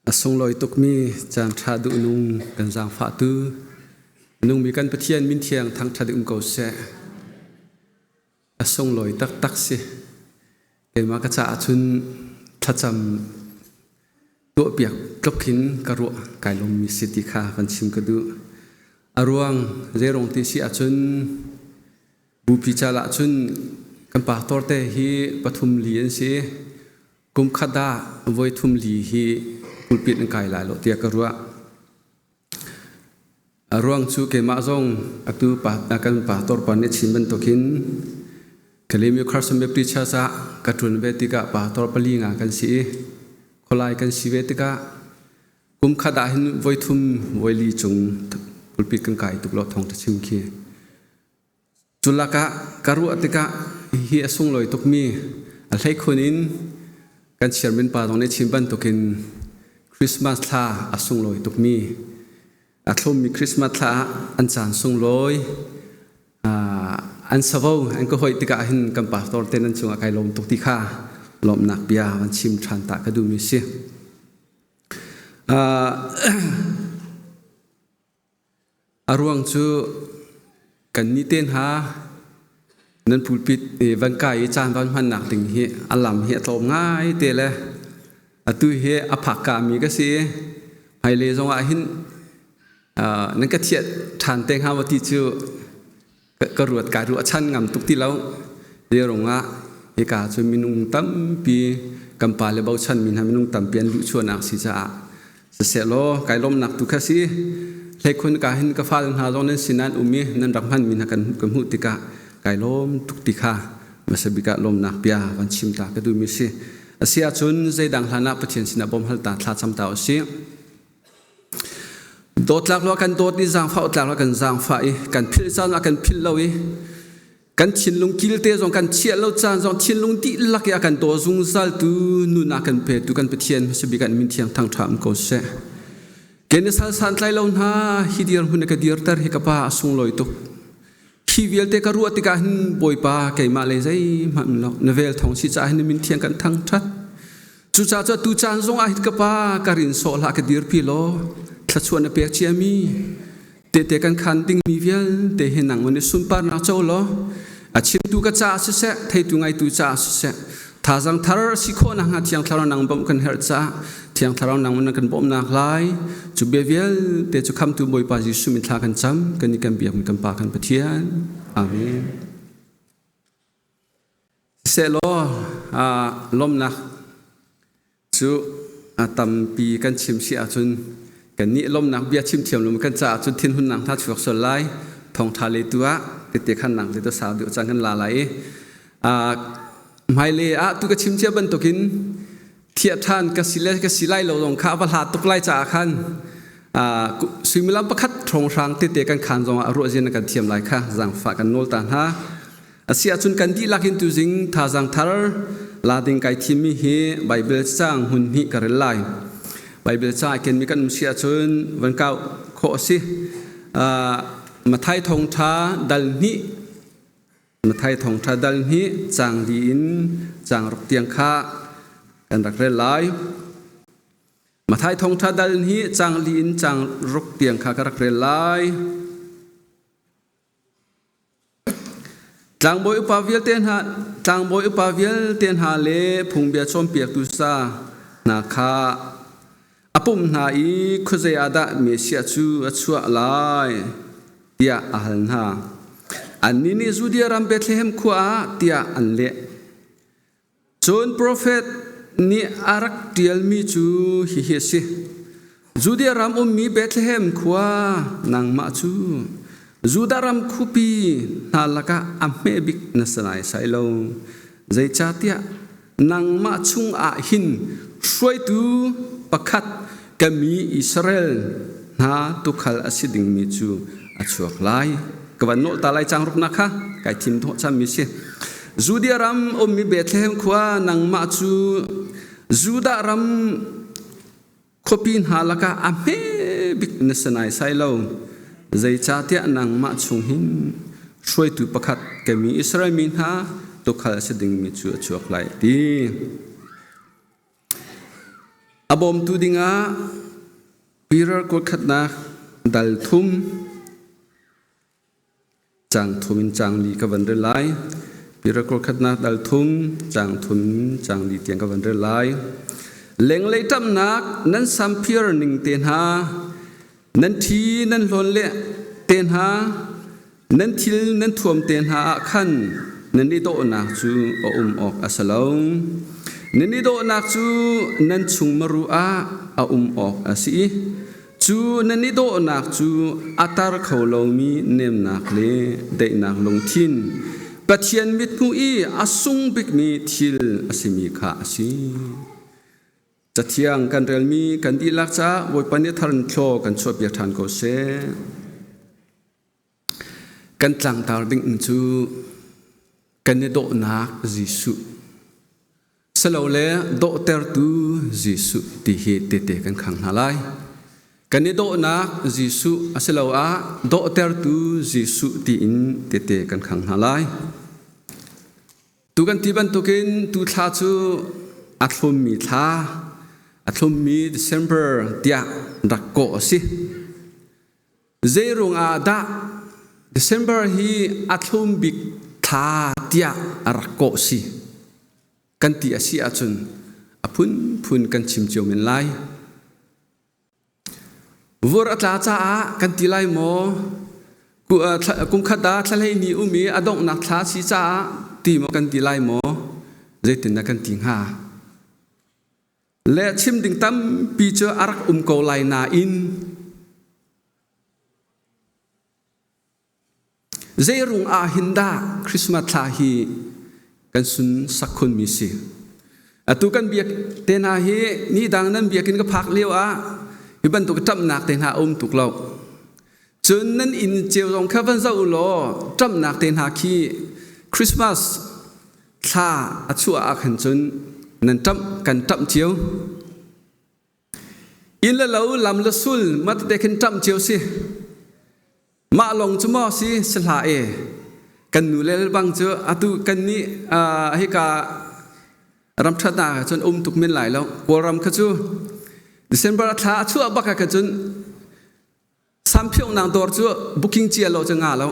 A sunglawi tukmi cangṭha duhnung kan zaangfahtu nungmi kan Pathian min thiang thangṭhat um ko seh. A sunglawi taktak si. Keimah ka caah cun thlacam tuahpiak tluk hin ka ruah kai lommi si ti kha kan chim ka duh. A ruang zeirong ti si ahcun Bupi cal ah cun kan pa torte hi pathum li an si. Kum khat ah voi thum li hi pulpit an kai lai lo tiah ka ruah. A ruang cu keimah zong atu pa, kan pa torpa nih chin bantuk hin Kalemi Christian Baptist Church ah ka ṭun ve tikah pa tor pali nga kan si i khualai kan si ve tikah kum khat ah hin voi thum voi li cung pulpit kan kai tuk lo thawng ka chim khi. Culak ah ka ruah tikah hihi a sunglawi tukmi a hleikhun in kan chairman pa zong nih chim bantukin Christmas thla a sunglawi tukmi a thlummi Christmas thla ah an caan sunglawi an savo an ka hoih tikah hin kan pastor ten an cungah kai lawm tuk ti kha lawmnak bia van chim ṭhan ta ka duhmi a si. A ruang cu kannih te hna nan pulpit i van kai i caan van hmannak ding hi a lam hi a tlawm ngai te le atu hi a phakkami ka si i hmailei zongah hin nan ka thiah ṭhan te hnga maw ti cu ka ruat kaa ruah chan ngam tuk ti lo zeirung ah hika cu minung tampi kan pa le bochan mi hna minung tampi an luhchuahnak si caah siselaw kai lawmnak tu kha si hleikhun ka hin ka fal hna zong nan sin nan um i nan rak hman mi hna kan kan hmuh tikah kai lawm tuk ti kha masabika lawmnak bia kan chim ta ka duhmi si asiahcun zeidang hlanah pathian sinah bawm hal ta thlacam ta u si Dawtlak lo kan dawt ni zaangfah utlak lo kan zaangfah i kan philh caan ah kan philh lo i kan thinlung kilte zong kan chiah lo caan zong thinlung dihlak i a kan daw zungzaltu nuna kan petu kan Pathian masabik an min thiang thangṭham ko seh. Ke na sal san tlai lo hna hi dir hun ka dir ter hi ka pa a sunglawi tuk. Khi vialte ka ruah tikah hin Bawipa keimah le zeihmanh um lo na vel thong si caah hin min thiang kan thang ṭhat cucaah cu tu caan zongah hin ka pa ka rin sawh hlah ka dirpi law thluachuah na pek cia mi tete kan khan dingmi vialte hi nang mun i sunparnak co law a chimtu ka caah siseh theitu ngaitu caah siseh Thazang thar si khawhnak hnga Thiang Thlarau nang bawmh kan herh cah Thiang Thlarau nang in kan bawmnak lai cu bia vialte cu khamtu Bawipa Jesuh min thla kan cam kan i kan biak mi kan pa kan Pathian Amen sehlaw lawmnak Cu tampi kan chim si ahcun kannih lawmnak bia chimthiam lawm kan caah cun thinhunnak hna chuak sual lai. Thawngṭha le tu ah tete khannak le dawsa deuh caan kan la lai i hmailei ah tu ka chim cia bantukin thiah ṭhan ka si le ka si lai lo zong kha a va hla tuk lai caah khan suimilam pakhat hrawnghrang tete kan khaan zongah ruahzia na kan thiam lai kha zaangfah kan nawl ta hna. Asi ahcun kan dihlak in tuzing thazang thar la ding kai thimmi hi Baibal cang hun hnih ka rel lai. Baibal ca i kenmi kan um si ahcun van kau khawh a si. Uh, Mathai thongtha dal hnih Mathai thongtha dal hnih cang di in cang ruk tiang kha kan rak rel lai. Mathai thongtha dal hi cang li in cang ruk tiang kha ka rak rel lai. Tlangbawi upa vialte hna, tlangbawi upa vialte hna le phungbia cawnpiaktu sa hna kha a pumh hna i khuazei ah dah Messiah cu a chuah lai? tiah a hal hna. Annih nih Judea ram Bethlehem khua ah tiah an leh. Cun profet nih a rak ṭialmi cu hihi a si: Judea ram ummi Bethlehem khua nangmah cu Judah ram khupi hna lakah a hme bik na si naisai lo. Zeicahtiah nangmah chungah hin hruaitu pakhat ka mi Israel hna tukhal a si dingmi cu a chuak lai ka van nolh ta lai cang ruknak kha kai thim thawh chammi si Judea ram ummi Bethlehem khua nangmah cu Judah ram khuapi hna lakah a hme bik na sinai sai lo zeicahtiah nangmah chung hin hruaitu pakhat ka mi Israel mi hna tukhal si dingmi cu a chuak lai ti A bawmtu dingah piral kawlkhatnak dal thum cang thum in cang li ka van rel lai piral kawlkhatnak dal thum cang thum in cang li tiang ka van rel lai lenglei ṭamnak nan samphir ning te hna nan thi nan hlawn le te hna Nan thil nan thuamte hna ah khan nan i dawhnak cu a um awk a si lo. Nan i dawhnak cu nan chung maru ah a um awk a si i cu nan i dawhnak cu a tar kho lomi nemnak le daihnak lungthin, Pathian mithmuh i a sung bikmi thil a simi kha a si. Cathiang kan relmi kan dihlak caah Bawipa nih a thar in thlaw kan chuahpiak ṭhan ko seh. Kan tlangtar dingin cu kan i dawhnak Jesuh salole dawhtertu Jesuh ti hi tete kan khang hna lai. Kan i dawhnak Jesuh asiloah dawhtertu Jesuh tiin tete kan khang hna lai. Tu kan ti bantukin tu thla cu a thlummi thla, a thlummi December tiah rak kawh a si. Zeiruang ah dah December hi a thlum bik thla tiah a rak kawh si kan ti a si ahcun a phunphun kan chim cio men lai. Vur a tla caah kan ti lai maw? Kumkhat ah thlahlei ni um i a donghnak thla si caah ti maw kan ti lai maw? Zeitin dah kan ti hnga? le chim ding tampi cu a rak um ko lai nain zeirung ah hin dah Christmas thla hi kan sun sak khun mi si atu kan biak te hna hi ni dang nan biakin ka phak lio ah hi bantuk ṭamnak te hna a um tuk lo Cun nan inn cio zong kha van zoh u law ṭamhnak te hna khi Christmas thla a chuah ah khan cun nan ṭamh kan ṭamh cio. Inn le lo, lam le sul matete khin ṭamh cio si. Mah lawng cu maw si sihla e kan nu le bang cu atu kan nih hika ram ṭhatnak ah cun um tuk men lai lo. Kawlram kha cu December thla a chuah bak ah khan cun Samphiongnang dawr cu booking cia lo cu nga lo.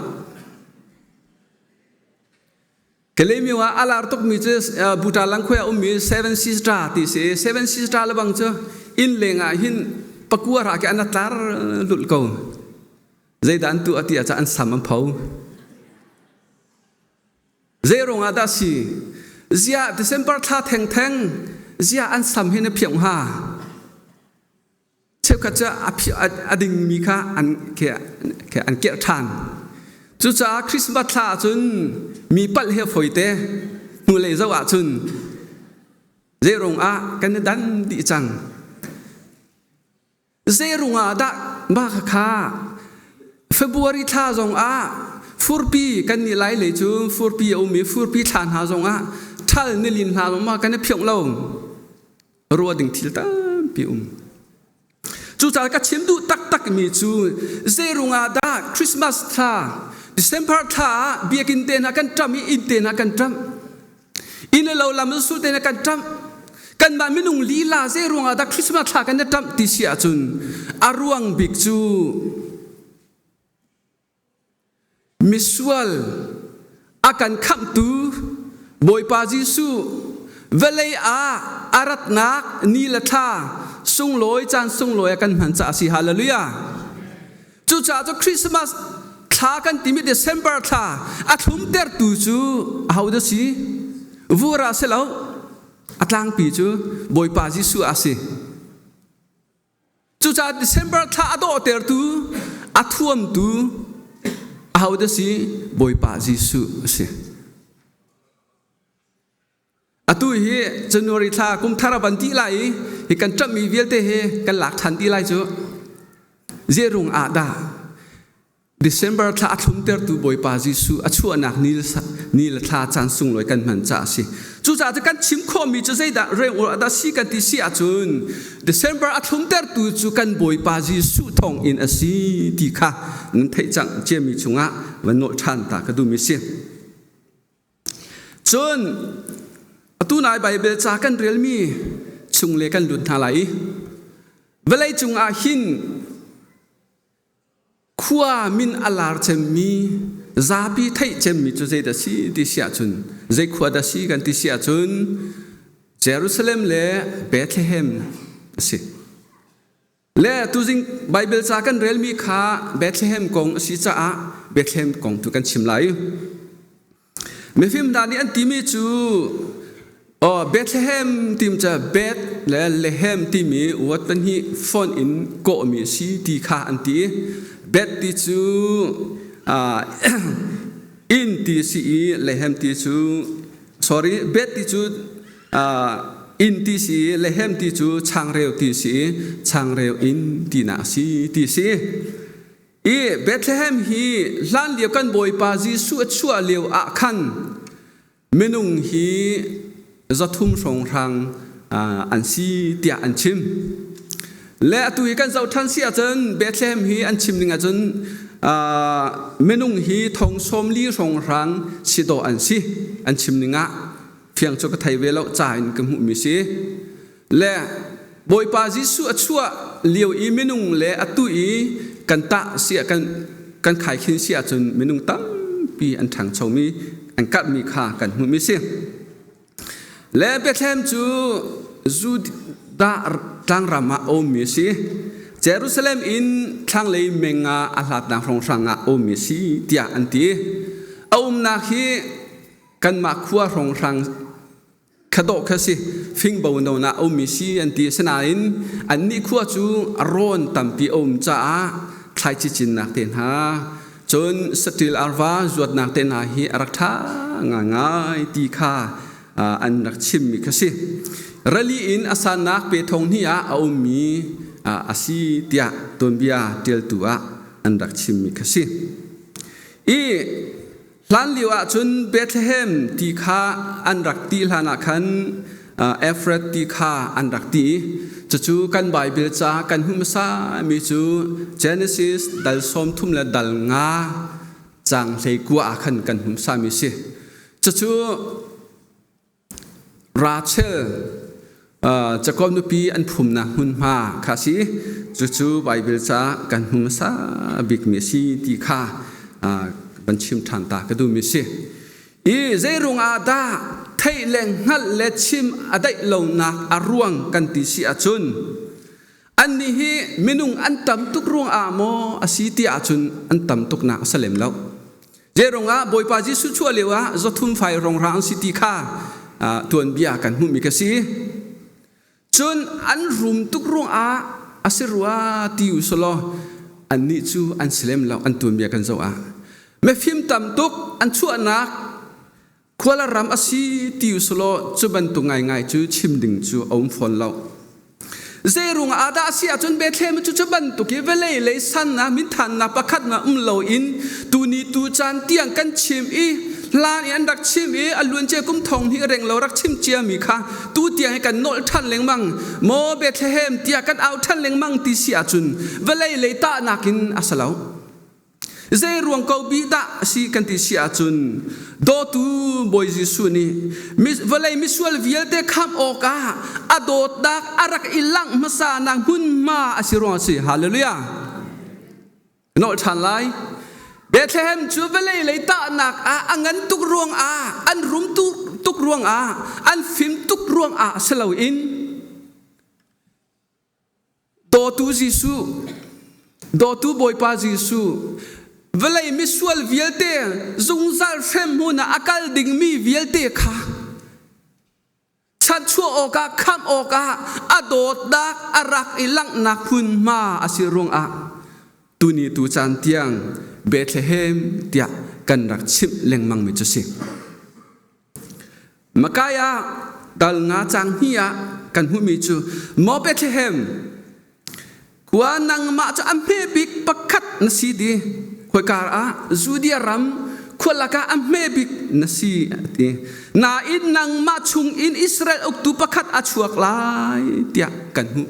Kalemio ah a lar tukmi cu buta langkhoi ah ummi Seven Sister ti si. Seven Sister lebang cu inn leng ah hin pakua ra ke an tlar lul ko. Zeidah an tu a ti ah an sam an pho. Zeirung ah dah si? Ziah December thla theng theng ziah an sam hin a phiong ha? cheukhat cu a dingmi kha an kirh ṭhan. Cucaah Christmas thla ah cun mi palh hi a fawite. Hnulei zoh ah cun zeiruang ah kan i dan dih cang? Zeiruang ah dah mah khakha February thla zong ah furpi kan nih lai lei cu furpi a um i furpi thla hna zong ah ṭhal nilin hna zong kan i phiongh lo. ruah ding thil tampi um cucaah ka chim duh taktak mi cu zeirung ah dah christmas thla december thla ah biakin te na kan ṭam i inn te na kan ṭam inn le lo lam su te na kan ṭam kanmah minung lila zeirung ah dah christmas thla kan na ṭam ti si ahcun a ruang bik cu Misual a kan khamhtu Bawipa Jesuh, vawlei ah a ratnak ni le thla sunglawi caan sunglawi a kan hman caah a si. Hallelujah. Cucaah cu Christmas thla kan timi December thla a thlumtertu cu ahodah si? Vura si lo. A tlangpi cu Bawipa Jesuh a si. Cucaah December thla a dawhtertu a thuamtu ahodah si? Bawipa Jesuh a si. Atu hi January thla kum thar a van ti lai i hi kan ṭamhmi vialte hi kan lak ṭhan ti lai cu. Zeirung ah dah December thla a thlumtertu Bawipa Jesuh a chuahnak ni le thla caan sunglawi kan hman caah a si. Cucaah cu kan chim khawhmi cu zeidah rengawr ah dah si kan ti si ahcun December a thlumtertu cu kan Bawipa Jesuh thawng in a si ti kha nan theih cang ciami chungah van nawl ṭhan ta ka duhmi si. Cun atu nai Baibel ca kan relmi chung le kan lut hna lai i vawlei cungah hin khua min a lar cemmi zapi theih cemmi cu zeidah si ti si ahcun zei khua dah si kan ti si ahcun Jerusalem le Bethlehem a si le tuzing Bible ca kan relmi kha Bethlehem kong a si caah Bethlehem kong tu kan chim lai Mifim hna nih an timi cu Bethlehem tim cu Beth le Lehem timi word pahnih font in kawhmi a si ti kha an ti. Beth ti cu inn ti a si i Lehem ti cu sorry Beth ti cu inn ti a si i Lehem ti cu changreu ti a si i changreu inn tinak a si ti a si. i Bethlehem hi hlanlio kan Bawipa Jesuh a chuah lio ah khan minung hi zathum hrawnghrang an si tiah an chim le atu hi kan zoh ṭhan si ahcun Bethlehem hi an chim ning ahcun minung hi thong sawm li hrawnghrang si dawh an si an chim ning ah fiang cu ka thei ve lo ca in ka hmuhmi si Le Bawipa Jesuh a chuah lio i minung le atu i kan tah si ah kan kan khaikhin si ahcun minung tampi an ṭhangchomi an karhmi kha kan hmuhmi a si. Le Bethlehem cu Judah tlangram ah a ummi a si. Jerusalem in thlanglei meng ah a hlatnak hrawnghrang ah a ummi a si tiah an ti. A umnak hi kanmah khua hrawnghrang kha dawh kha si fingbo non ah a ummi si an ti asinain an nih khua cu rawn tampi a um caah thlaici cinnak te hna cun satil arva zuatnak te hna hi a rak ṭha ngai ti kha an rak chimmi kha si rali in a sannak pe thong hni ah a ummi a si tiah tuanbia ṭialtu ah an rak chimmi kha si i Hlanlio ah cun Bethlehem ti kha an rak ti hlanah khan Efrath ti kha an rak ti. Cucu kan Baibal ca kan hmuh hmasami cu Genesis dal sawm thum le dal nga caang hleikua ah khan kan hmuhsami a si. Cucu Rachel cakom nupi an phumnak hmunhma kha a si i cucu Baibal ca kan hmu hmasa bikmi a si ti kha kan chim ṭhan ta ka duhmi a si. I zeiruang ah dah theih le hngalh le chim a daih lonak a ruang kan ti si ahcun annih hi minung an tam tuk ruang ah maw a si ti ahcun an tam tuknak a si lem lo. Zeirung ah Bawipa Jesuh chuah lio ah zothum fai rongra an si ti kha tuanbia kan hmuhmi ka si. Cun an rum tuk ruangah a si rua ti usulaw annih cu an si lem lo an tuanbia kan zoh ah. Mifim tam tuk an chuahnak Kuala ram asi ti usulaw cu bantuk ngaingai cu chim ding cu a um fawn lo. Zeiruang ah dah asi ahcun Bethlehem cu cu bantuk i vawlei lei sannak minthannak pakhatnak um lo in tuni tu caan tiang kan chim i hlan i an rak chim i a luancia kum thong hnih reng lo rak chim ciami kha tu tiang hi kan nolh ṭhan lengmang maw Bethlehem tiah kan au ṭhan lengmang ti si ahcun vawlei lei tahnak in a si lo. Zeiruang ko bih dah a si kan ti si ahcun dawtu Bawi Jesuh nih vawlei misual vialte khamh awkah a dawtnak a rak i langh hmasanak hmunhma a si ruang a si. Hallelujah! Nolh ṭhan lai. Bethlehem cu vawlei lei tahnak ah a ngan tuk ruangah, an rum tuk ruangah, an fim tuk ruangah si loin Dawtu Jesuh, Dawtu Bawipa Jesuh, vawlei misual vialte zungzal hremhmun ah a kal dingmi vialte kha chanhchuah awkah khamh awkah a dawtnak a rak i langhnak hmunhma a si ruangah tuni tu caan tiang Bethlehem tiah kan rak chimh lengmangmi cu si. Micaiah dal nga cang hni ah kan hmuhmi cu maw Bethlehem khua nangmah cu a hme bik pakhat na si di khoikar ah Judea ram khua lakah a hme bik na si a ti nain nangmah chung in Israel uktu pakhat a chuak lai tiah kan hmuh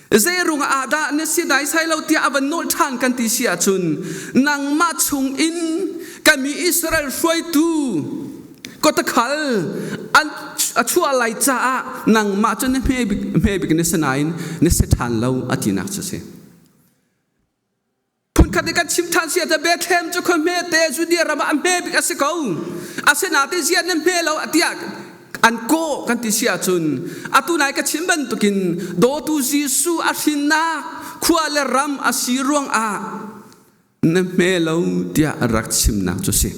zeiruangah ahdah na si daisai lo tiah a van nawl ṭhan kan ti si ahcun nangmah chungin ka mi Israel hruaitu kawtakhal an a chuah lai caah nangmah cu na hme bik hme bik na si nain na si ṭhan lo a tinak cu a si. Phunkhat i kan chim ṭhan si ahcun Bethlehem cu khua hmete Judea ram ah a hme bik a si ko. Asinain ziah na hme lo tiah an kawh kan ti si ahcun atu nai ka chim bantukin dawtu Jesuh a hrinnak khua le ram a si ruangah na hme lo tiah rak chimnak cu si.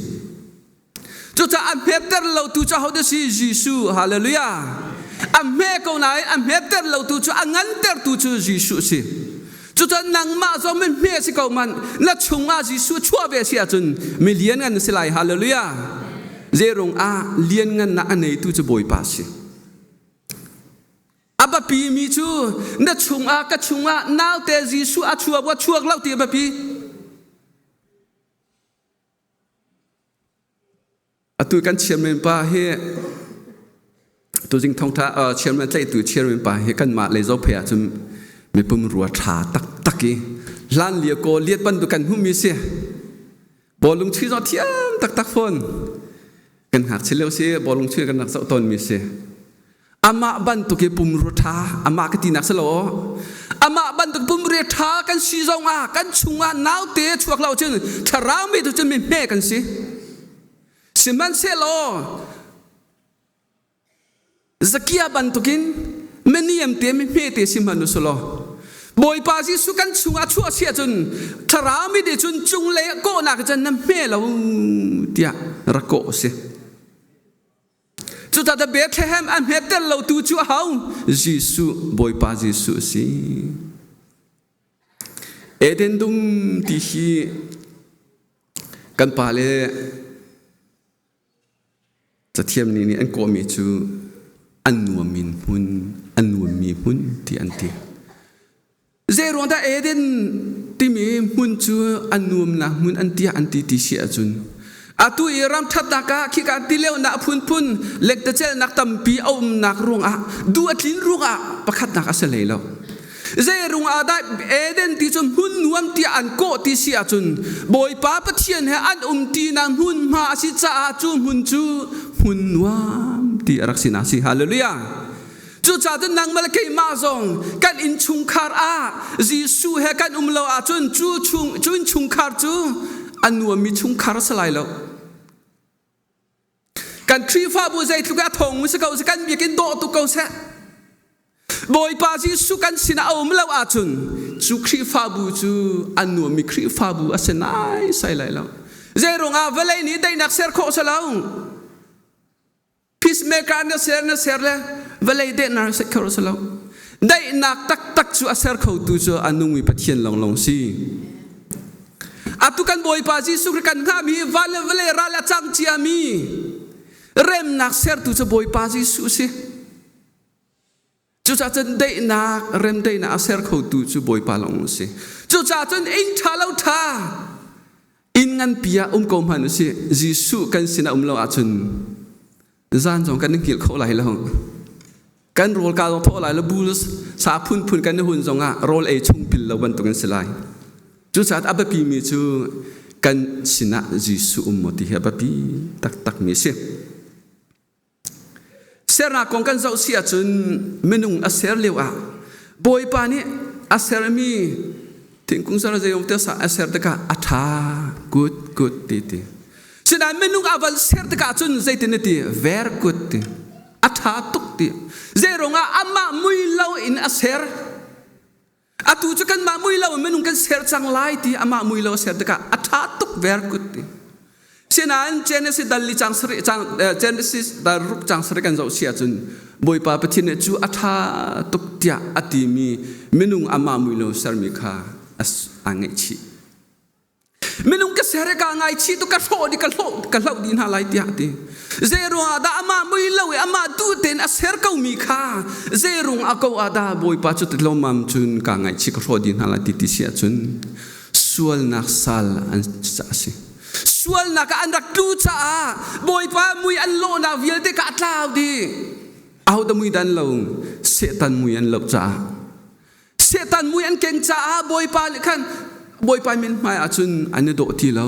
Cucaah a hmetter lotu cu ahodah si? Jesuh. Hallelujah. A hme ko nain a hmetter lotu cu a ngantertu cu Jesuh si. Cucun nangmah zong min hme si ko man. Na chungah Jesuh chuah ve si ahcun mi lianngan na si lai. Hallelujah. Zeirung ah lianngannak a neitu cu Bawipa si. A biapi mi cu na chungah ka chungah naute Jesuh a chuak wa chuak lo ti a biapi. Atu kan chairman pa hi tuzing thongtha uh, chairman tlaihtu chairman pa hi kanmah lei zophe ah cun mipum rua tha taktak i hlan lia kaw liat ban tu kan hmumi si bawlung chui zo thiam taktak fawn kan hngak chileu si bawlung chui kan rak zoh tawn mi si Amah bantuk hi pumrua ṭha, amah ka tinak si lo, amah bantuk pumrua ṭha kan si zong ah kan chungah naute chuak lo cun thlarau mi tu cun mi hme kan si. Sihmanhsehlaw Zakia bantukin meniam te mi hme te si hmanu su law Bawipa Jesuh kan chungah chuah si ahcun thlarau mi nih cun cung lei kawhnak cun na hme lo tiah ra kawh si. Cuta the Bethlehem a hmetter lo tu cu a hau Jesuh Bawipa Jesuh a si. Eden dum ti hi kan pa le cathiam nih nih an kawhmi cu an nuam in hmun an nuammi hmun ti an ti. Zeiruang dah Eden timi hmun cu an nuamnak hmun an tiah an ti ti si ahcun atu i ram thatnak ah khi kan ti leo nak phunphun lektacelnak tampi a umnak ruangah du a tlin ruangah pakhatnak a si hlei lo zeirung ah dah Eden ti cu hmun nuam tiah an kawh ti si ahcun Bawipa Pathian he an um tinak hmunhma a si caah cu hmun cu hmun nuam ti a rak sinak si hallelujah Cucaah nangmah le keimah zong kan innchungkhar ah Jesuh he kan um lo ahcun cu chung, cu innchungkhar cu a nuammi chungkhar a si lai lo. Kan Khrihfabu zeitluk i a thawngmi si ko seh, kan biakin dawh tuk ko seh, Bawipa Jesuh kan sinah a um lo ahcun cu Khrihfabu cu a nuammi Khrihfabu a si naisai lai lo. Zei ruangah vawlei nih teinak ser khawh si lo. peacemaker na ser na ser le vawlei dehnar set kho si lo daihnak taktak cu a ser khotu cu a nungmi pathian lawnglawng si atu kan bawipa jesuh kri kan hngami van le vale ral a cang ciami remnak sertu cu bawipa jesuh si Cucah cun deihnak remdaihnak a ser khotu cu Bawipa lawng a si. Cucah cun ing ṭha lo ṭha inn nganpi ah um ko hmanh u sih, Jesuh kan sinah um lo ahcun zan zong kan in kilh khawh lai lo. Kan rawl ka zong thawh lai lo, bu sa phunphun kan i hun zong ah rawl ei chung pil lo bantuk an si lai. Cucaah a biapimi cu kan sinah Jesuh um maw ti hi a biapi taktakmi a si. Sernak kong kan zoh si ahcun minung a ser lio ah Bawipa nih a sermi thingkung sal zeiong teo sa a ser tikah a ṭha kut kut ti ti. Sinain minung a van ser tikah cun zeitin ti ver kut ti a ṭha tuk ti. Zeiruangah amah mui lo in a ser Atu cu kanmah muilo in minung kan ser cang lai ti amah muilo a ser tikah a ṭha tuk ver kut ti. Sinain Genesis dal li cang sarih cang Genesis dal ruk cang sarih kan zoh si ahcun Bawipa Pathian nih cu a ṭha tuk tiah a timi minung amah muilo sermi kha a ngeihchih. minung ka ser ka ngaichi tu ka hrawh di ka hloh ka hloh di hna lai tiah ti zeirung ah dah ama mui lo i ama tu ten a ser ko mi kha zeirung a ko a da bawipa cu tilomam cun ka ngaichi ka hrawh di hna lai ti ti sia cun sualnak sal an a si sualnak ah an rak tlu caah bawipa mui an lawhnak vialte ka tlau di ahoda mui dan lo setan mui an lo caah Setan mui an keng caah Bawipa nih khan Bawipa min hmaiah cun an i dawh ti lo.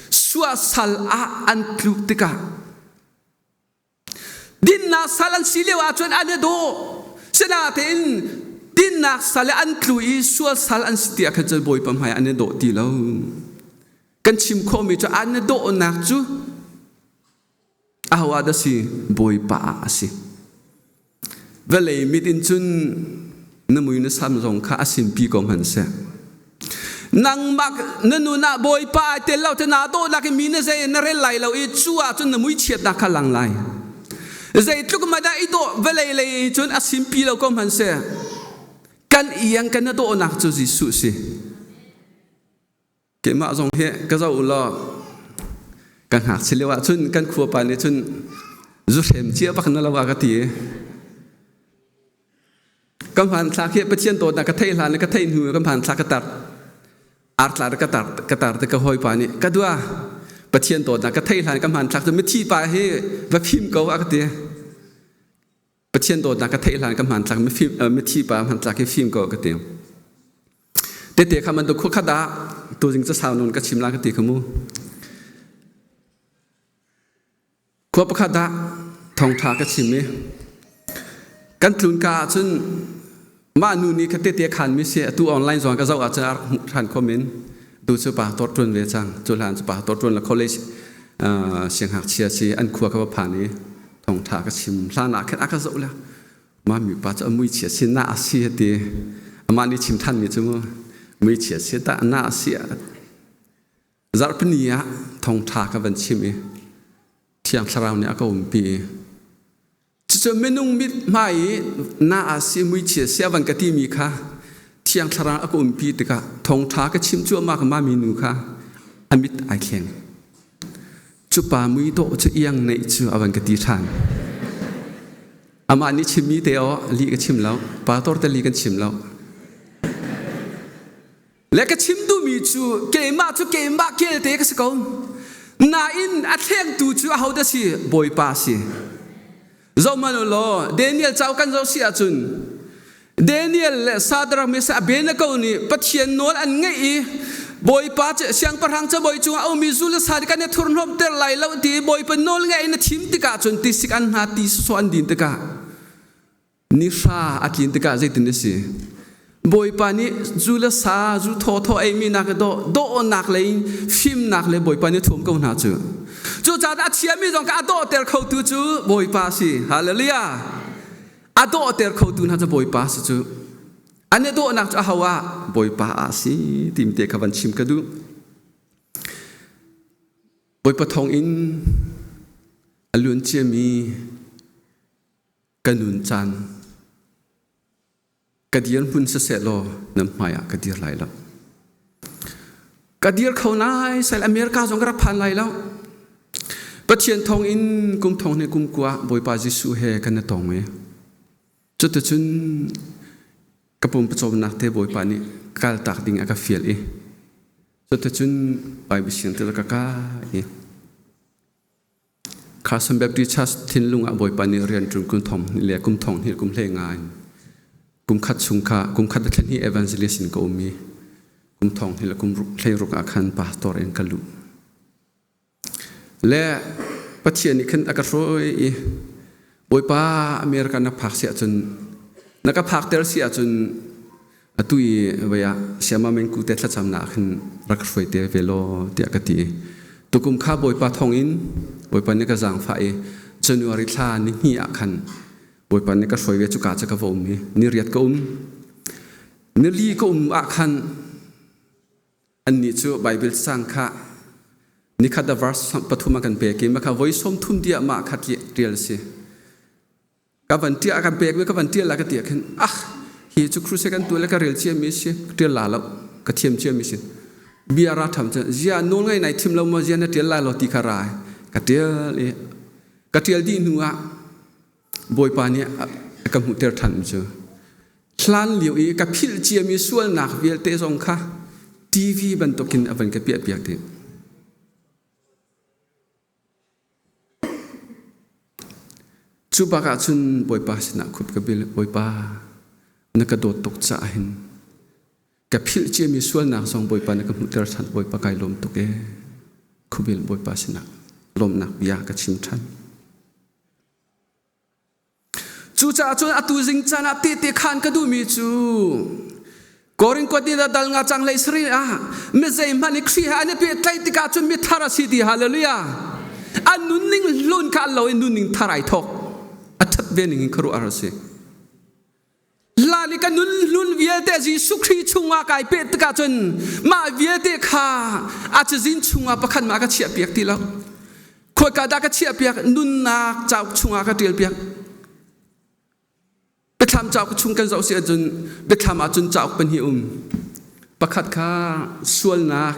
Suasal ah an tlu tikah dinnak sal an si lio ahcun an i dawh. Sinatein dinnak sal i an tlu i sualsal an si tiah khan cun Bawipa hmai an i dawh ti lo. Kan chim khawhmi cu an i dawhnak cu ahoah dah si bawipa a si vale mit in cun na mui na sam zong kha a simpi ko hman seh nangmah na nunah bawipa ai tel lo te na to nak mi na zei na rel lai lo i cu ah cun na mui chiatnak kha lang lai zeitluk ma dah i to vale lei cun a simpi lo ko hman seh kan iang kan na to nak cu Jesuh si Keimah zong hi ka zoh u law kan ngakchia lio ah cun kan khua pa nih cun zuhrem cia bak na lo a ka ti i ka hmaan thlak hi Pathian dawt na ka theih hlan ka theih hnu ka hmaan thlak ka tar ar tlar ka tar ka tar te ka hoi pa nih ka dua Pathian dawt na ka theih hlan ka hmaan thlak cu mithi pa hi va phim ko a ka ti Pathian dawtnak ka theih hlan ka hmantlak mithi pa hmantlak hi fim ko ka te tete kha man tu khua khat ah tu ding cha sau nun ka chim la ka ti kha mu khua pakhat ah thongtha ka chim mi kan tlun ka ahcun Mah nu nih khate te khanmi si atu online zong ka zoh ahcun a hmuh ṭhan khom in tu cu pa tor ṭun ve cang cu hlan cu pa tor ṭun la college sianghngakchia si an khua ka va phan i thongṭha ka chim hlan ah khan a ka zoh le ma mi pa cu a mui chia si na a si hati amah nih chim ṭhanmi cu mui chia si ta na a si zarhpini ah thongṭha ka van chim i thiang thlarau nih a ka umpi Cucu minung mit hmai i na a si muichia siavan ka timi kha thiang thlarau a ka umpi tikah thongtha ka chim cuahmah ka mami nu kha a mit ai thleng cupa mui dawh cu iang neih cu a van ka ti ṭhan amah nih chimmi te aw li ka chim lo pa tor te li kan chim lo le ka chim duhmi cu keimah cu keimah kelte ka si ko nain a thlengtu cu a hodah si bawipa si zohmanhulaw Daniel cauk kan zoh si ahcun Daniel le Sadrach Mesach Abednego nih Pathian nawl an ngaih i Bawipa cu siangpahrang cabawi cungah a ummi zul le sa kan i thurhnawmter lai lo ti i Bawipa nawl ngaih in a thim tikah cun tisik an hna ti sawsawh an din tikah Nifa a tlin tikah zeitin a si? Bawipa nih zu le sa, zu thawthaw eimi nak i daw, dawhnak le in fimnak le Bawipa nih a thuam ko hna cu. Cucaah a thiami zong ka a dawhter khotu cu Bawipa si. Hallelujah! A dawhter khotu hna cu Bawipa si cu. An i dawhnak cu aho ah? Bawipa ah si timte kha van chim ka duh. Bawipa thawng in a luanciami ka nun caan ka dirhmun siseh law nan hmaiah ka dir lai lo ka dir kho lai sai america zong ka rak phan lai lo pathian thong in kum thong ne kum kua bawipa jesuh he kan tong e cuticun ka pum pawcawmnak te bawipa nih kal tak ding a ka fial i cuticun bible siang til ka ka i Carson Baptist Church thinlung ah Bawipa nih rian ṭun kum thong le kum thong hnih kum hlei ngai. Kum khat chung kha kum khat thlen hi evangelist in ka um i kum thong hnih le kum hlei ruk ah khan pastor in ka luh. Le Pathian nih khan a ka hruai i Bawipa America na phak si ahcun na ka phakter si ahcun atu i voi ah siama mengku te thlacamnak ah khin rak hruai te ve law tiah ka ti i tukum kha Bawipa thawngin Bawipa nih ka zaangfah i January thla ni hnih ah khan Bawipa nih ka hruai ve cuka cu ka va um i ni riat ka um ni li ka um ah khan Annih cu Baibal caang kha nikhat a verse pathum a kan pek i mah kha voi sawmthum diah mah kha ṭial a si. Ka van ṭial kan pekmi ka van ṭial la ka tiah khin ah hi cu kruse kan tuah le ka rel ciami si ṭial la lo ka thiam ciami si bia ra tham cun zia nawl ngai nai thim lo ma zia na ṭial la lo ti kha ra ka ṭial i ka ṭial dih hnu ah Bawipa nih ka hmuhter ṭhan cu. Hlan lio i ka philh ciami sualnak vialte zong kha TV bantukin a van ka piahpiak dih. Cu bak ah cun Bawipa sinah khup ka bil, Bawipa, na ka dawt tuk caah hin ka philh ciami sualnak zong Bawipa na ka hmuhter ṭhan, Bawipa kai lawm tuk e. Khubil Bawipa sinah lawmnak bia ka chim ṭhan. Cucaah cun atu zing caan ah tehte khan ka duhmi cu Korinth ni na dal nga cang lei sari ah mi zeihmanh nih Khrih he an i pehtlaih tikah cun mi thar a si ti hallelujah an nunning hlun kha an lo i nunning thar ai thawk a ṭhat ve ning in khuaruah a si Lali ka nun hlun vialte Jesuh Khrih chungah kai peh tikah cun mah vialte kha a cazin chungah pakhat mah ka chiah piak ti lo. Khoika dah ka chiah piak nunnak cauk chungah ka ṭial piak. Biathlam cauk chung kan zoh si ahcun biathlam ahcun cauk pahnih um. Pakhat kha sualnak,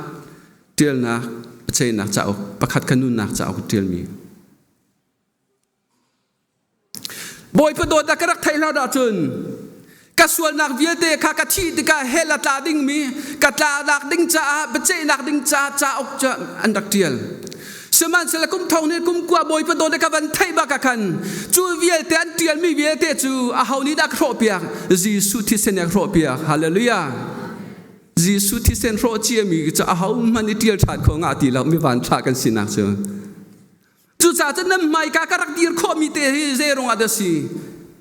ṭialnak, paceinak cauk, pakhat kha nunnak cauk ṭialmi. Bawipa dawt a ka rak theih hna ahcun ka sualnak vialte kha ka thih tikah hell a tla dingmi ka tlanak ding caah biaceihnak ding caah cauk cu an rak ṭial sihmanhsehlaw kum thong nih kum kua bawipa dawt i ka van theih bak ah khan cu vialte an ṭialmi vialte cu aho nih dah ka hrawhpiak Jesuh thisen nih a hrawhpiak hallelujah Jesuh thisen hrawh ciami cu ahohmanh i ṭial ṭhan kho ngah ti lo mi vanṭha kan sinak cu Cucaah cun nan hmaika ka rak dir khawhmi te hi zei rungah dah si?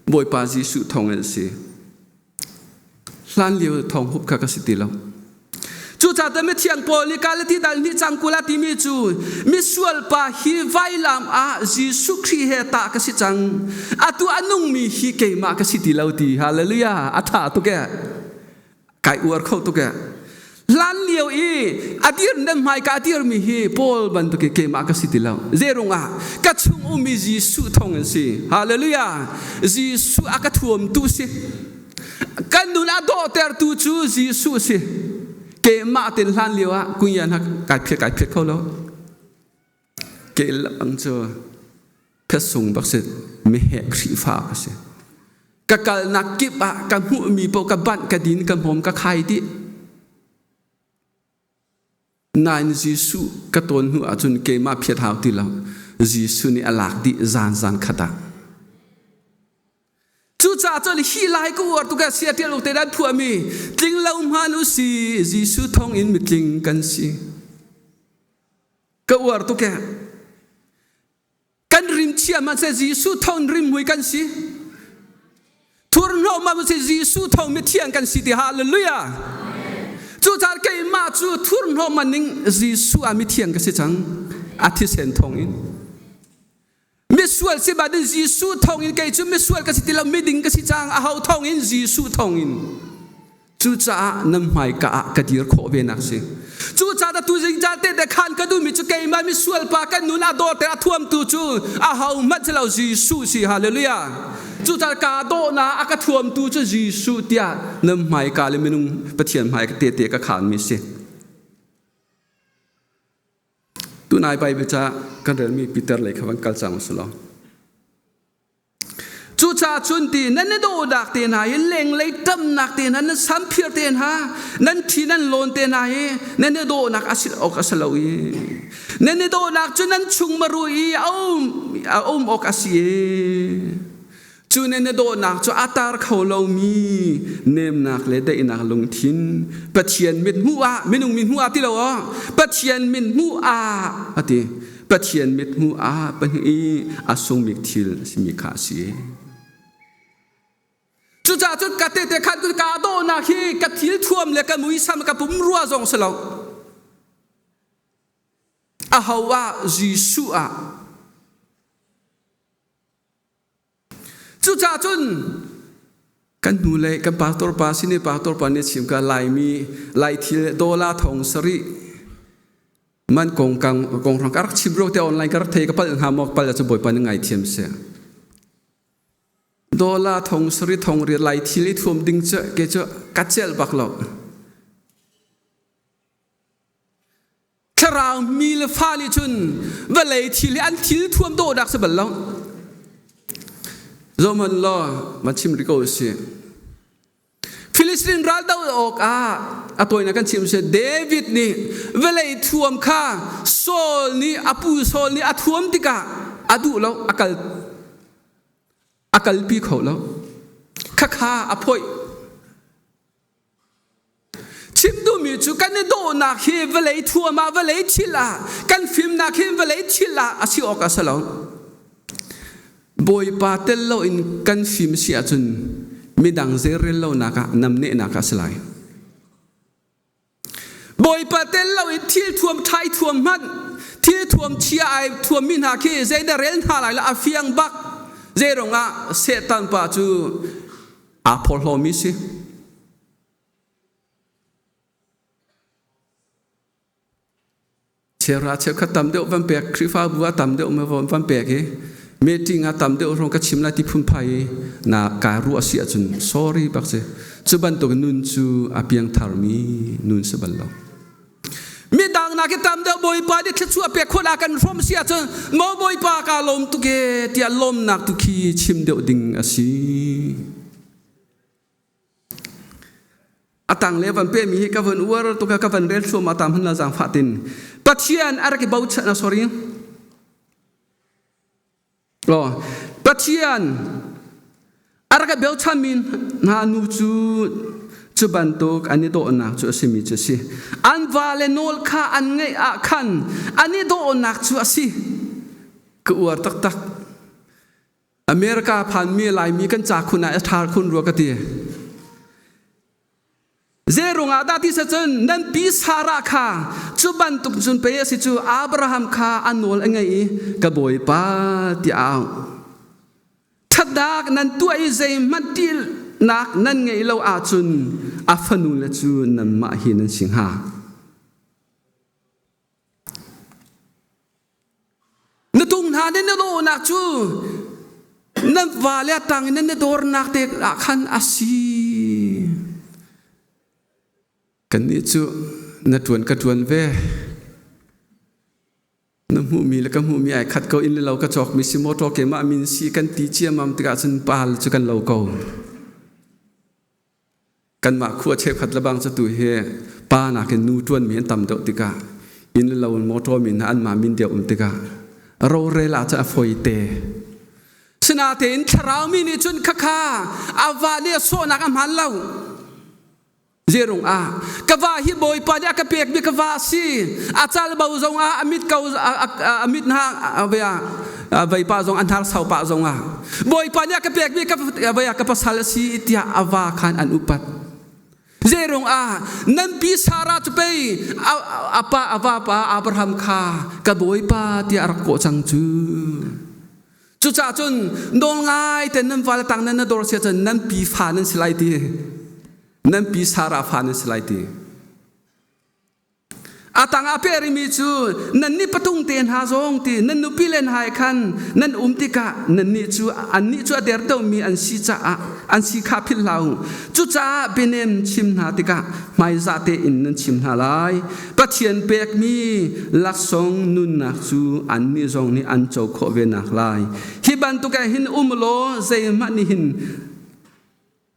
Bawipa Jesuh thawngin a si. Hlan lio thawng hup kha ka si ti lo. Cucaah cun mithiang Paul nih Galati dal hnih cang kul ah timi cu misual pa hi vailam ah Jesuh Khrih he tah ka si cang. Atu a nungmi hi keimah ka si ti lo ti. Hallelujah. A ṭha tuk ee. kai uar kho tuk e hlan lio i a dir dang hmai ka dir mi hi paul bantuk i keimah ka si ti lo zerung ah ka chung ummi jesuh thong in si hallelujah jesuh a ka thuam tu si kan nun a dawhter tu cu jesuh si keimah tin hlan lio ah kun yan ha kai phiat kai phiat kho lo Ke inn lamang cu thetsung bak si meheh Khrihfa ka si. Ka kalnak kip ah ka hmuhmi paoh ka banh, ka din, ka hmawm, ka khai dih. Nain Jesuh ka tawn hnu ahcun keimah phiat hau ti lo. Jesuh nih a lak dih zan zan khat ah. Cucaah cun hi lai ka uar tuk ah sia ṭial u te dan phuami tling lo hman u si Jesuh thawng in mitling kan si. ka uar tuk e kan rim chiam ah Jesuh thon rim mui kan si thur hnawm ah Jesuh thon mi thiang kan si ti hallelujah cucar keimah cu thur hnawm ning Jesuh a mi thiang ka si cang a thisen thong in misual si bat in Jesuh thawngin kei cu misual ka si ti lo miding ka si cang a ho thawngin Jesuh thawngin cucaah nan hmaika ah ka dir khawh ve nak si cucaah da tu zingzal te te khan ka duhmi cu keimah misual pa kan nun a dawr te a thuamtu cu a ho hmanh si lo Jesuh si hallelujah cucaah ka dawhna a ka thuamtu cu Jesuh tiah nan hmaika le minung Pathian hmaika te te ka khan mi si Tunai pai beca kan relmi Peter lei kha van kal cang usih law. Cucaah cun ti nan i dawhdak te hna i lenglei ṭamnak te hna nan samphir te hna nan thi nan lawn te hna i nan i dawhnak a si awk a si lo i nan i dawhnak cu nan chung maru i a um a um awk a si i Cu nih na dawhnak cu a tar kho lomi nemnak le daihnak lungthin, Pathian mit hmuh ah, minung mit hmuh ah ti lo aw, Pathian min hmuh ah a ti. Pathian mit hmuh ah pahnih i a sungmi thil a simi kha a si. Cucaah cun ka tehte khan cun ka dawhnak hi ka thil thuam le ka muisam ka pum rua zong si lo. A ho ah Jesuh ah Cucaah cun kan hnu le kan pastor pa sine pastor pa nih chim ka laimi lai thil dola thong sari man kong kang kong rang karak chim ro te online karak thei ka pal nga mo pal chu boy pan ngai thiam se dola thong sari thong ri lai thil i thuam ding chu ke chu kat chel bak lo thlarau mi le fa nih cun vawlei thil hi an thil thuam dawh dak si bal lo zoman law ma chim ri ko si Philistine ral do awk ah a toina kan chim si David nih vawlei thuam kha Saul nih a pu Saul nih a thuam tikah a duh lo a kal a kalpi kho lo khakha a phoih Chim duhmi cu kan i dawhnak hi vawlei thuam ah, vawlei thil ah, kan fimnak hi vawlei thil ah a si awk a si lo. Bawipa tel loin kan fim si ahcun midang zeirel lonak ah namnehnak a si lai. Bawipa tel loin thil thuam ṭhai thuam hmanh thil thuam chia ai thuammi hna khi zeidah rel hna lai lo a fiang bak zeirong ah Satan pa cu Aa phorhlawmi si. Chera cheukhat tam deuh van pek Khrihfabu a tam deuh van van pek hi meeting a tam deuh rong ka chim la ti phun phai na ka ru asi ahcun sorry bak si cu bantuk nun cu a piang tharmi nun si bal lo midang nak hi tam deuh bawipa nih thluachuah a pek khawla kan hrom si ahcun mo bawipa ka lawm tu ke tiah lawmnak tu khi chim deuh ding asi atang le van pe mi hi ka van uar tu ka ka van rel thluam atam hun la jang fatin pathian ar ki bochan sorry Pathian a rak i bochanmi hna nu cu cu bantuk an i dawhnak cu a simi cu a si. An vale nawl kha an ngaih ah khan an i dawhnak cu a si. Ka uar taktak. America phanmi Laimi kan ca khun ah a ṭhar khun rua ka ti. Zeirung ah dah ti cun nan pi Sarah kha cu bantuk cun pei a si cu Abraham kha a nawl a ngei i ka bawipa tiah au thatdak nan tuah i zeihmanh ṭihnak nan ngeih lo ahcun a fanu le cu nanmah hi nan si hnga Na tung hna nih na dawhnak cu na vale a tang in na dornak te ah khan a si. Kannih cu na ṭuan ka ṭuan ve. Na hmuhmi le ka hmuhmi ai khat ko in le lo ka cawkmi si mawṭaw keimah min si kan ti ciammam tikah cun pal cu kan lo ko. Kanmah khua cheukhat lebang cu tu hi pa nakin nu ṭuanmi an tam deuh tikah inn le lo mawṭawmi hna anmah min deu um tikah rorela cu a foi te. Sinatein thlarau mi nih cun khakha a va le a sawhnak a hmaan lo. Zerung ah ka va hi Bawipa nih a ka pekmi ka va a si. A calbo zongah a mit ko a mit hna ve ah veipa zong an har saupa zong ah bawipa nih a ka pekmi ka vaya ka pasal a si tiah a va khan an upat zeirung ah nanpi sara cu pei apa a vapa abraham kha ka bawipa tiah a rak kawh cang cu cucah cun nawlngai ten nan vale tang nan na dor sia cun nan pi fa nan si lai ti nan pi sara fa nan si lai ti A tangah peh rimi cu nan nih patung te hna zong ti nan nupi len hai khan nan um tikah nannih cu annih cu a dertomi an si caah an si kha philh hlah u cucaah bianem chim hna tikah hmaizah tein nan chim hna lai pathian pekmi laksawng nunnak cu annih zong nih an co khawh ve nak lai hi bantuk ah hin um law zeihmah nih hin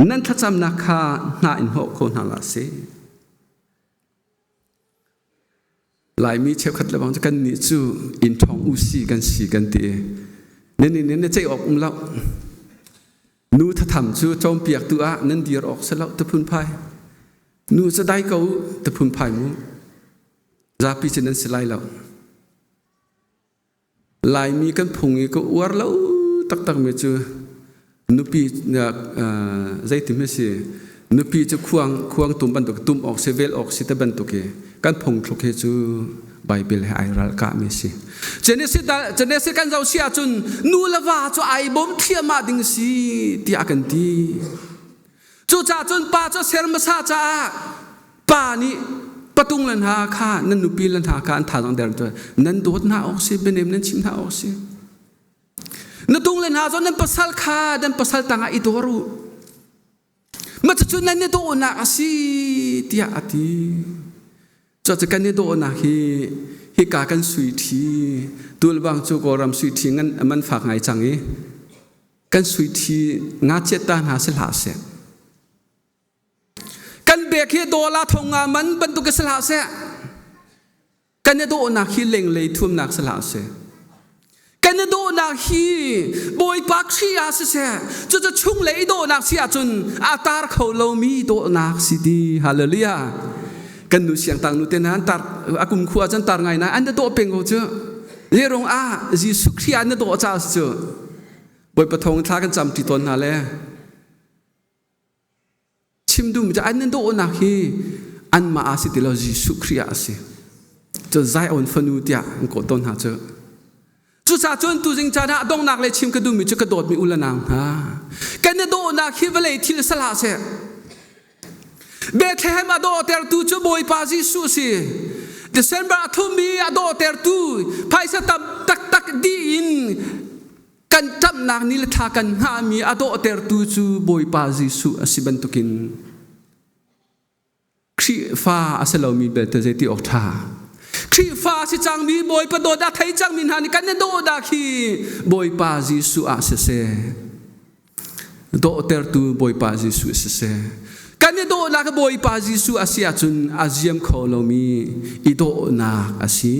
nan thlacamnak kha hna in hawh kho hna la si Laimi cheukhat le bang cu kannih cu inn ṭhawng u si kan si kan ti. Nan inn in na ceih awk um lo. Nu thatham cu ṭawmpiaktu ah nan dir awk si lo taphun phai. Nu cu dai ko taphun phai mu. Zapi cu nan si lai lo. Laimi kan phung i ka uar lo taktakmi cu nupi zeiti hme si nupi cu khuang khuang tum bantuk tum awk si vel awk si te bantuk i kan phungthluk hi cu Baibel he ai ralkahmi si Genesi kan zoh si ahcun nu le va cu ai bawm thliahmah ding si tiah a kan ti Cucah cun pa cu a ser hmasa caah pa nih patung le hna kha nan nupi le hna kha an thazang der tu nan dawt hna awk si bianem nan chim hna awk si na tung le hna zawn nan pasal kha dan pasal tangah i dawr u macucu nan i dawhnak a si tiah a ti cuaca kan i dawhnak hi hika kan sui ṭhi tulbang cu kawlram sui ṭhi ngan man fak ngai cang i kan suithi ngachiat ta hna si hlah seh kan bek hi dola thonga man bantuk si hlah seh kan i dawhnak hi lenglei thuamnak si hlah seh kan i dawhnak hi bawipa kri ah si seh cucu chung le i dawhnak si ahcun a tar kho lomi dawhnak si ti hallelujah kan nu siang tang nu te nan tar akum khu ahcun tar ngai na an da dawh peng ko cu yerong ah jesuh kri an na dawh ca cu Bawipa thawng thla kan camti tawn hna le chim duhmi cu an nan dawhnak hi anmah a si ti lo Jesuh Khrih a si cun zai awn fanu tiah an kawh tawn hna cu cucaah cun tuzing caan ah donghnak le chim ka duhmi cu ka dawtmi u le nau hna kan i dawhnak hi vawlei thil sal hlah seh Bethlehem a dawhtertu cu Bawipa Jesuh si. December thum i a dawhtertu phaisa tam taktak dih in kan ṭamhnak ni le thla kan hngahmi a dawhtertu cu Bawipa Jesuh a si bantukin Khrihfa a si lomi belte zeiti awk ṭha. Khrihfa a si cangmi Bawipa dawt a thei cangmi hna nih kan i dawhnak hi Bawipa Jesuh ah siseh, dawhtertu Bawipa Jesuh siseh kan i dawhnak Bawipa Jesuh a si ahcun a ziam kho lomi i dawhnak a si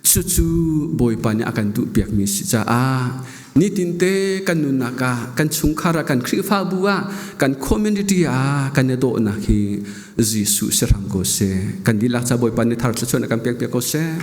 cucu Bawipa nih a kan duhpiakmi si caah nitinte kan nunnak ah kan chungkhar ah kan Khrihfabu ah kan community ah kan i dawhnak hi Jesuh si hram ko seh kan dihlak ca Bawipa nih thar thluachuan a kan pekpiak ko seh